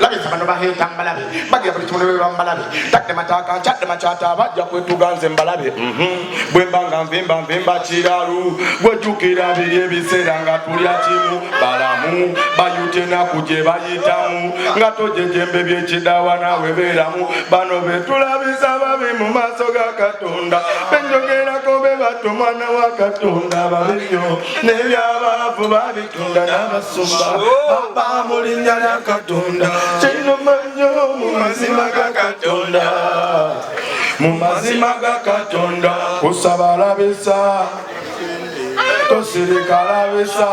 labisa bano baheeta mbalabe bagira buli kimuno beba mbalabe tadde mataka nkyadde makyata bajja kwetuga nze mbalabe mhm. bwemba nga nvimba nvimba kiralu gwejukira biri ebiseera nga tulya kimu balamu bayuta enaku gye bayitamu nga tojejembe byekidawa nawe beeramu bano betulabisa babi mu maaso ga katonda benjogerako be bato mwana wa katonda babi nyo nebyabaavu babi katonda n'abasumba baba mu linnya lya katonda kinuma nnyo mu mazima ga katonda mu mazima ga katonda kusaba labisa tosirika labisa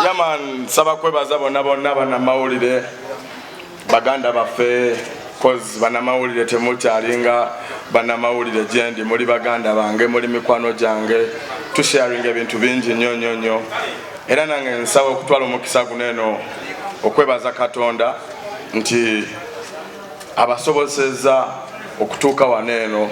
yaman saba kwebaza bonna bonna banamawulire baganda baffe kozi banamawulire temukyalinga banamawulire gyendi muli baganda bange muli mikwano gyange tusharinga ebintu bingi nnyo nnyo nnyo era nange nsaba okutwala omukisa guno eno okwebaza katonda nti abasobozesezza okutuuka wano eno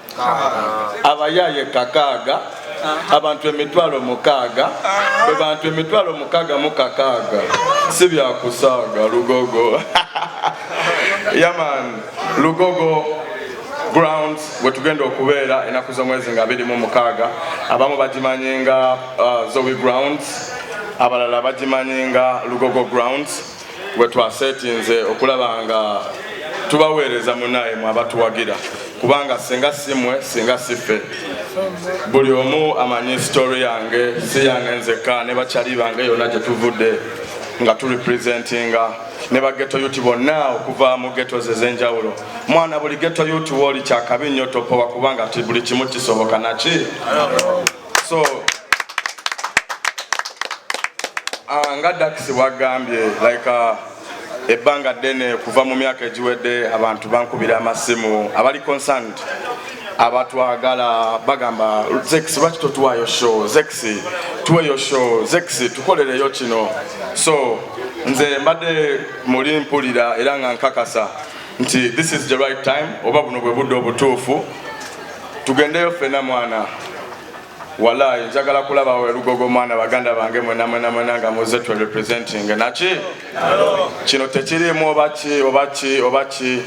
abayaaye kakaaga abantu emitwalo mukaaga bwe bantu emitwalo mukaaga mu kakaaga si byakusaaga lugogo yaman lugogo grounds wetugenda okubeera enaku z'omwezi nga biri mu mukaaga abamu bagimanyi nga uh, zowi grounds abalala bagimanyi nga lugogo grounds gwe twasetinze okulaba nga tubaweereza munaye mwe abatuwagira kubanga singa simwe singa sife buli omu amanyi sitori yange si yange nzekka ne bakyali bange yonna gye tuvudde nga turepresentinga ne bageto yuti bonna okuva mu geto ze ez'enjawulo mwana buli geto yuti wooli kyakabi nnyo topowa kubanga ti buli kimu kisoboka naki so uh, nga dax wagambye like uh, ebbanga ddene kuva mu myaka egiwedde abantu bankubira amasimu abali concerned abatwagala bagamba zex lwaki totuwayo show zex tuweyo show zex tukolereyo kino so nze mbadde muli mpulira era nga nkakasa nti this is the right time oba buno bwe budde obutuufu tugendeyo ffena mwana walayi njagala kulaba welugogo mwana baganda bange mwena mwena mwena nga muze twe representing naki kino tekirimu obaki obaki obaki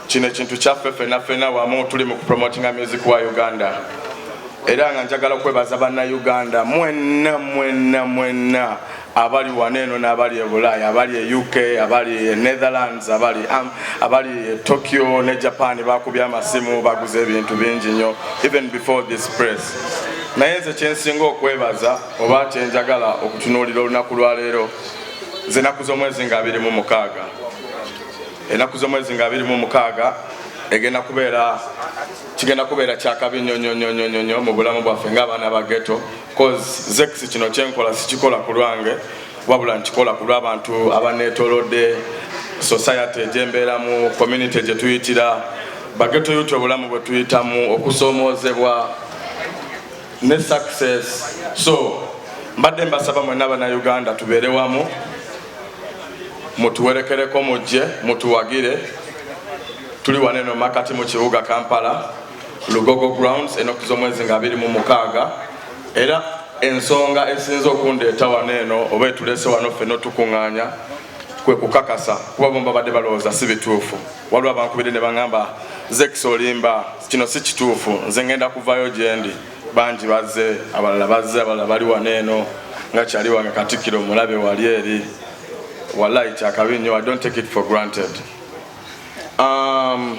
kino ekintu kyaffe fena fena wamu tuli mu kupromotinga music wa uganda era nga njagala okwebaza banna uganda mwena mwena mwena abali wano eno n'abali e bulaaya abali e uk abali e netherlands abali um, abali e tokyo ne japan bakubye amasimu baguze ebintu bingi nnyo even before this press naye nze kyensinga okwebaza oba kyenjagala okutunuulira olunaku lwaleero nze enaku z'omwezi nga abiri mu mukaaga enaku z'omwezi nga abiri mu mukaaga egenda kubeera kigenda kubeera kyakabi nyonyonyonyonyo mu bulamu bwaffe ng'abaana ba geto cause zex kino kyenkola sikikola ku lwange wabula nkikola ku lw'abantu abaneetolodde society gyembeeramu community gye tuyitira bageto yuti obulamu bwe tuyitamu okusoomoozebwa ne success so mbadde mbasaba mwena banauganda tubeere wamu mutuwerekereko mujje mutuwagire tuli waneno makati mu kibuga kampala lugogo grounds enoku z'omwezi nga abiri mu mukaaga era ensonga esinze okundeeta wano eno oba etulese wano ffe notukuŋŋaanya kwe kukakasa kuba bomu babadde balowooza si bituufu waliwo abankubidde ne baŋŋamba zekisa olimba kino si kituufu nze ŋŋenda kuvaayo gyendi bangi bazze abalala bazze abalala bali wano eno nga kyali wange katikkiro mulabe wali eri walayi kyakabi nnyo i don't take it for granted um,